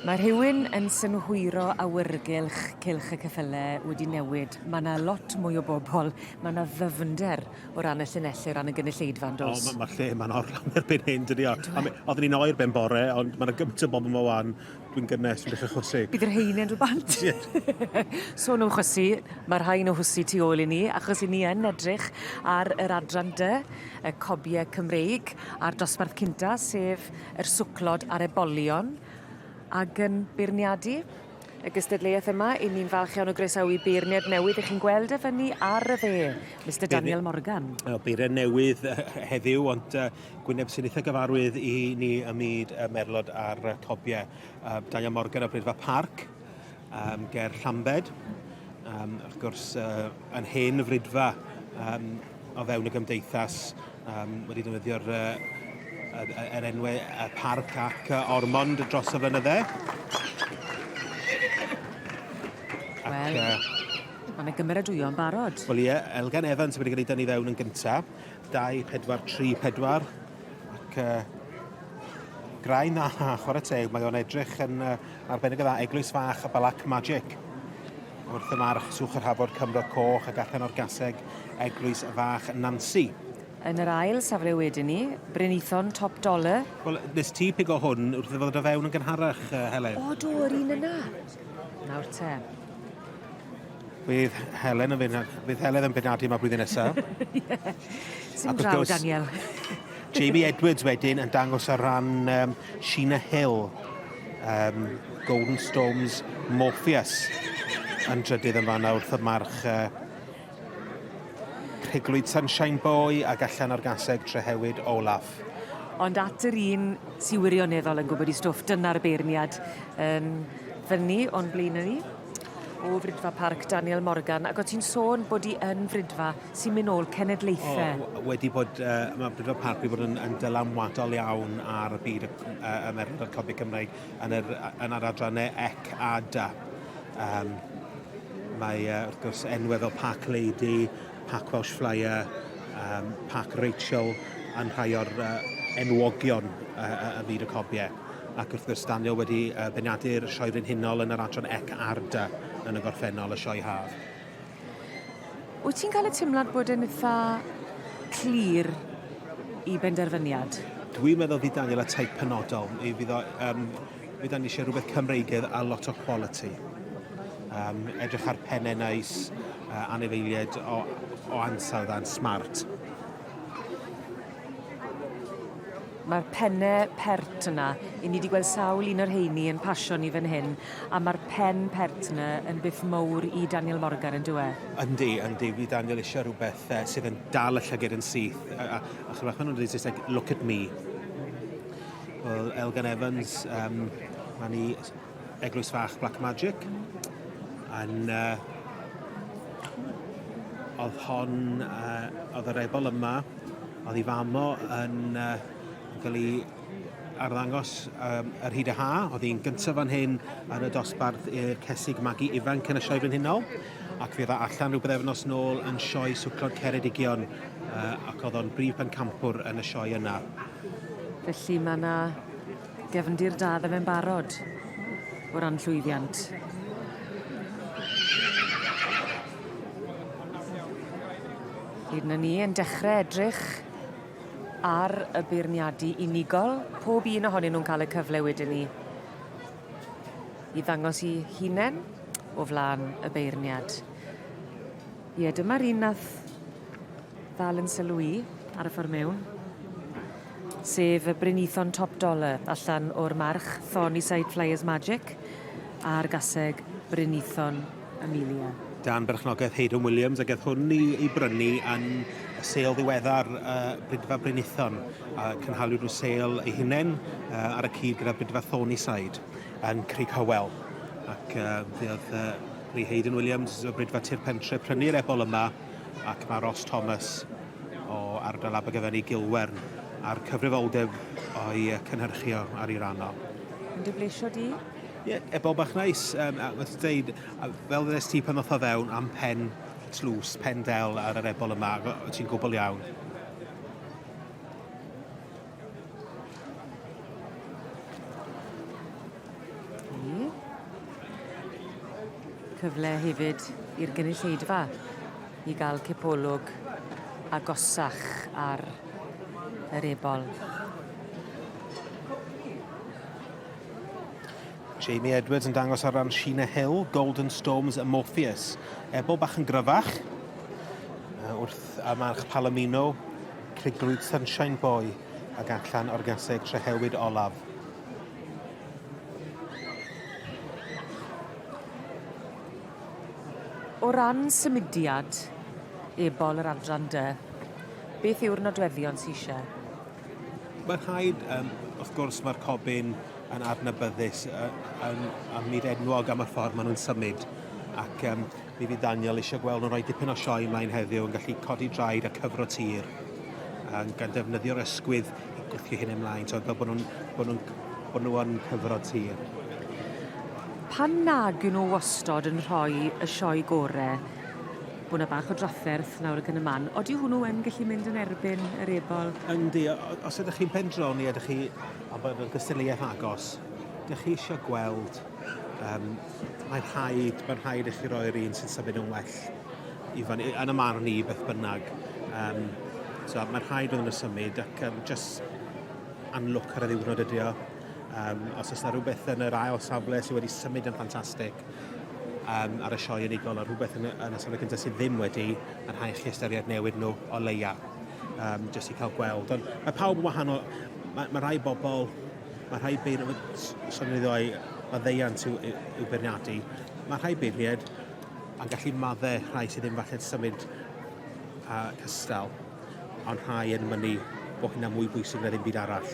Mae rhywun yn synhwyro awyrgylch cylch y ceffyle wedi newid. Mae yna lot mwy o bobl, mae yna ddyfnder o ran y llinellau, o ran y gynulleidfa, yn dos. O, mae'r lle yma'n orlawn erbyn hyn, dydy o. Oedden ni'n oer ben bore, ond mae yna gymaint o bobl yma wan, dwi'n gynnes, dwi'n dechrau chwysu. Bydd yr rheini'n dod bant. Sôn am chwysu, mae rhain o hwysu tu ôl i ni, achos i ni yn edrych ar yr adran dy, y cobiau Cymreig, a'r dosbarth cynta, sef yr swclod a'r ebolion ag yn beirniadu y gystadleuaeth yma. I ni'n falch iawn o groesawu beirniad newydd i chi'n gweld e fyny ar y dde, Mister Daniel Morgan. Wel, beirniad newydd heddiw, ond uh, gwyneb sy'n eitha gyfarwydd i ni ym myd y merlod a'r cobiau. Uh, Daniel Morgan o Brydfa Parc. um, ger Llambed, um, wrth gwrs uh, yn hen frydfa um, o fewn y gymdeithas um, wedi defnyddio'r uh, er enwau y parc ac uh, ormond dros y flynyddau. Wel, uh, Mae yna gymeradwyo yn barod. Wel ie, Elgan Evans wedi cael ei dynnu fewn yn gyntaf. 2, 4, 3, 4. Ac uh, graen na, chwarae teg, mae o'n edrych yn uh, arbennig o dda, eglwys fach a Black Magic. Wrth y march, swch yr hafod Cymro Coch ac allan o'r gaseg, eglwys fach Nancy. Yn yr ail safle wedyn ni, Brynithon Top Dollar. Wel, nes ti pig o hwn wrth i ddod o fewn yn gynharach, uh, Helen. O, do, yr un yna. Nawr te. Bydd Helen yn fyn- bydd Helen yn benadu yma blwyddyn nesa. Ie. Sim Ac wrth draw, gwrs- Daniel. Jamie Edwards wedyn yn dangos ar ran um, Sheena Hill, um, Golden Storms Morpheus, yn drydydd yn fanna wrth y march uh, Priglwyd Sunshine Boy ac allan o'r gaseg Trehewyd Olaf. Ond at yr un sy'n wirioneddol yn gwybod i stwff, dyna'r beirniad yn fyny o'n blaenau ni. o Fridfa Parc Daniel Morgan ac o ti'n sôn bod i yn Fridfa sy'n mynd ôl cenedlaethau. O, wedi bod, uh, mae Fridfa Parc wedi bod yn, yn dylanwadol iawn ar y byd y, uh, y merched a'r copi Cymraeg yn, yr, yn yr adrannau ec a da. Um, mae, uh, wrth gwrs, enwedd o Park Lady, Park Welsh Flyer, um, Park Rachel yn rhai o'r uh, enwogion uh, y byd y cobiau. ac wrth gwrs Daniel wedi uh, benadu'r Sioe Frenhinol yn yr adran Ec Arda yn y gorffennol y Sioe Haf. Wyt ti'n cael y teimlad bod yn eitha clir i benderfyniad? Dwi'n meddwl fydd Daniel y taith penodol. I fydd o, um, fydd ni eisiau rhywbeth Cymreigedd a lot o quality. Um, edrych ar pennau nais, uh, anifeiliaid o, o ansawdd a'n smart. Mae'r penne pert yna. I ni wedi gweld sawl un o'r rheini yn pasio ni fan hyn, a mae'r pen pert yna yn beth mowr i Daniel Morgan, yn dyw e? Yndi, yndi. Fydd Daniel eisiau rhywbeth uh, sydd yn dal y llyged yn syth. A, a, a chymryd hwnnw'n dweud Saesneg, look at me. Wel, Elgan Evans, um, mae ni Eglwys Fach Black Magic yn uh, oedd hon uh, oedd yr ebol yma oedd i famo yn uh, cael ei arddangos um, yr hyd y ha oedd hi'n gyntaf fan hyn yn y dosbarth i'r cesig magu ifanc yn y sioe frenhinol ac fe dda allan rhywbeth efnos nôl yn sioe swclod Ceredigion uh, ac oedd o'n brif pencampwr yn y sioe yna. Felly mae yna Gefndir da ddo fe'n barod o ran llwyddiant. Hyd na ni yn dechrau edrych ar y beirniadu unigol, pob un ohonyn nhw'n cael y cyfle wedyn ni i ddangos i hunain o flaen y beirniad. Ie, dyma'r un nath ddal yn sylw i ar y ffordd mewn. sef y Brynithon Top Dollar allan o'r march Thorny Side Flyers Magic a'r gaseg Brynithon Amelia. Dan berchnogaeth Haydon Williams a geth hwn i, i brynu yn y sêl ddiweddar uh, Brydfa Brynithon a cynhaliwyd nhw sêl ei hunain uh, ar y cyd gyda Brydfa Thorny Side yn Crig Hywel ac uh, fe oedd uh, Lee Hayden Williams o Brydfa Tir Pentre prynu'r ebol yma ac mae Ross Thomas o ardal Abergavenny i Gilwern a'r cyfrifoldeb o'i cynhyrchu o ar ei ran o. Yn dy bleisio di? Ie, yeah, ebob bach neis. Um, a wrth dweud, fel ddys ti pan oedd o fewn am pen tlws, pen del ar yr ebol yma, ti'n gwbl iawn. cyfle hefyd i'r gynulleidfa i gael cipolwg agosach ar yr ebol. Jamie Edwards yn dangos ar ran Sheena Hill, Golden Storms a Morpheus. Ebol bach yn gryfach, wrth a march Palomino Criglwyd Sunshine Boy ag allan o'r gaseg trehewyd olaf. O ran symudiad, ebol yr adran dy, beth yw'r nodweddion sy'n eisiau? Mae'n rhaid, um, wrth gwrs, mae'r cobyn yn adnabyddus yn, yn, yn myd enwog am y ffordd maen nhw'n symud ac um, Mi fydd Daniel eisiau gweld nhw'n rhoi dipyn o sioe mlaen heddiw yn gallu codi draed a cyfro tir um, gan ddefnyddio'r ysgwydd i gwthio hyn ymlaen, so fel bod nhw'n bod nhw'n bod nhw'n cyfro tir. Pan nag yw nhw wastod yn rhoi y sioe gore, bod yna bach o drafferth nawr ac yn y man. Oeddi hwnnw yn gallu mynd yn erbyn yr ebol? Yndi, os ydych chi'n pendroni a ydych chi a bod yn gystadleuaeth agos, ydych chi eisiau gweld um, Mae'n rhaid, mae'n rhaid i chi roi'r un sy'n symud yn well i fyny, yn y marn i beth bynnag. Um, so, mae'n rhaid iddyn nhw symud ac um, just anlwc ar y ddiwrnod ydi o. Um, os oes yna rhywbeth yn yr ail safle sydd wedi symud yn ffantastig um, ar y sioe unigol a rhywbeth yn, yn y safle gyntaf sydd ddim wedi, mae'n rhaid chi ystyried newid nhw o leia, um, jyst i cael gweld. Ond mae pawb yn wahanol, mae, mae rai bobl Mae rhai beirniadau maddeuant i'w beirniadu. Mae rhai beirniaid yn gallu maddau rhai sydd ddim falle'n symud a cystal, ond rhai yn mynnu bod hynna'n mwy bwysig na ddim byd arall.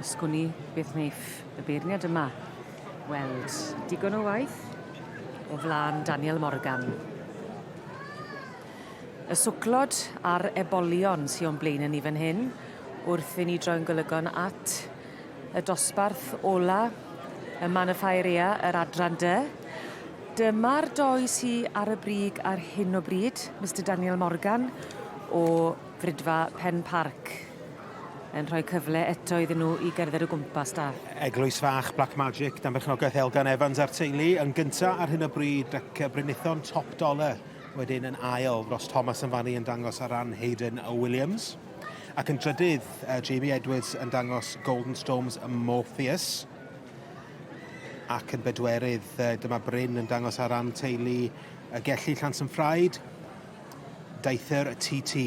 Sgwn i, beth wneiff y beirniad yma weld digon o waith o flaen Daniel Morgan. Y swclod a'r ebolion sy o'n blaenau ni fan hyn, wrth i ni droi'n golygon at Y dosbarth ola, y man y ffair ea, yr adran dy. Dyma'r doi sy ar y brig ar hyn o bryd, Mister Daniel Morgan o Fridfa Pen Parc yn rhoi cyfle eto iddyn nhw i gerdded o gwmpas da. Eglwys Fach Black Magic dan berchnogaeth Elgan Evans a'r teulu yn gynta ar hyn o bryd ac y Brynithon Top Dollar wedyn yn ail dros Thomas yn fan yn dangos ar ran Hayden Williams. Ac yn drydydd, uh, JB Edwards yn dangos Golden Storms ym Morpheus. Ac yn bedwerydd, uh, dyma Bryn yn dangos ar ran teulu y gelli Llans yn Ffraid, daethyr y TT.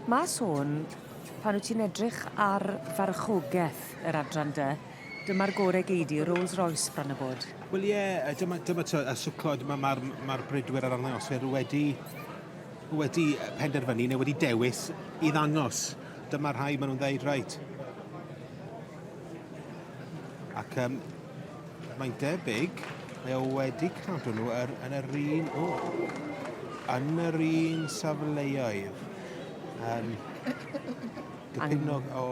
Mae sôn pan wyt ti'n edrych ar farchogaeth yr adran dy Dyma'r gore gei di, Rolls Royce bron a bod. Wel ie, yeah, dyma, dyma to, y swclod, mae'r ma, ma, ma bridwyr ar arddangoswyr wedi, wedi penderfynu neu wedi dewis i ddangos. Dyma rhai maen nhw'n dweud, reit. Ac um, mae'n debyg, mae o wedi cadw nhw er, yn yr un, o, yn yr un safleoedd. Um, gypinnog o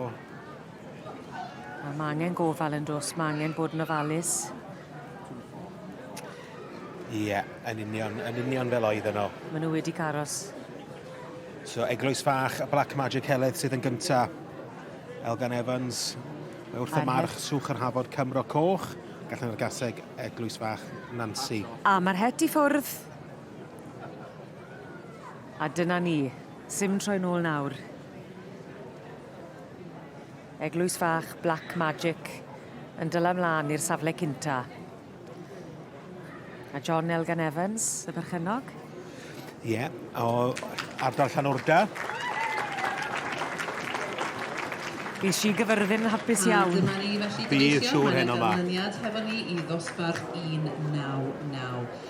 A ma' angen gofal yn dos, ma' angen bod yn ofalus. Ie, yn union, yn union fel oedd yno. Maen nhw wedi caros. So, eglwys fach y Black Magic Heledd sydd yn gynta. Elgan Evans, mae wrth y march swch yr hafod Cymro Coch, gallan yr gaseg eglwys fach Nancy. A mae'r het i ffwrdd. A dyna ni. Sim troi nôl nawr. Eglwys fach Black Magic yn dyla mlaen i'r safle cynta. A John Elgan Evans, y berchennog? Ie, yeah, o ardal Llanwrda. Bydd si gyfyrddin yn hapus iawn. Dyma ni felly gobeithio, mae'n ganlyniad hefo ni i ddosbarth 199.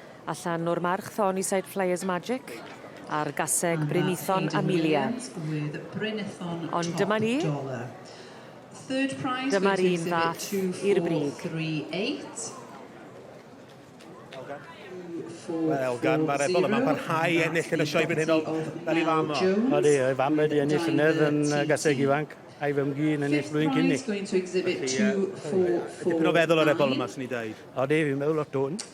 Allan o'r march thon i Side Flyers Magic a'r gaseg Brynithon Amelia. Ond dyma ni. Dyma'r un fath i'r brig. Wel, Elgan, mae'r ebol yma'n parhau i ennill yn y sioe brenhinol fel ei fam o. Odi, ei fam wedi ennill llynedd yn gaseg ifanc a'i fymgu yn ennill blwyddyn cyn ni. Felly, ie, dipyn o feddwl ar ebol yma, swn i'n dweud. Odi, fi'n meddwl lot o'n.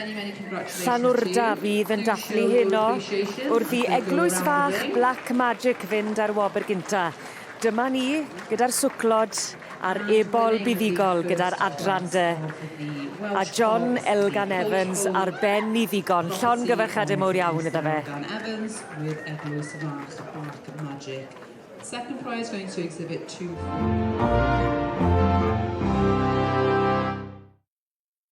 Llanwrda fydd yn dathlu heno wrth i eglwys fach Black Magic fynd ar wobr gynta. Dyma ni gyda'r swclod a'r ebol buddugol gyda'r adran de. A John Elgan Evans ar ben ni ddigon. Llon gyfarchade mowr iawn iddo fe. Elgan Evans with eglwys fach Black Magic. Second prize going to exhibit 2.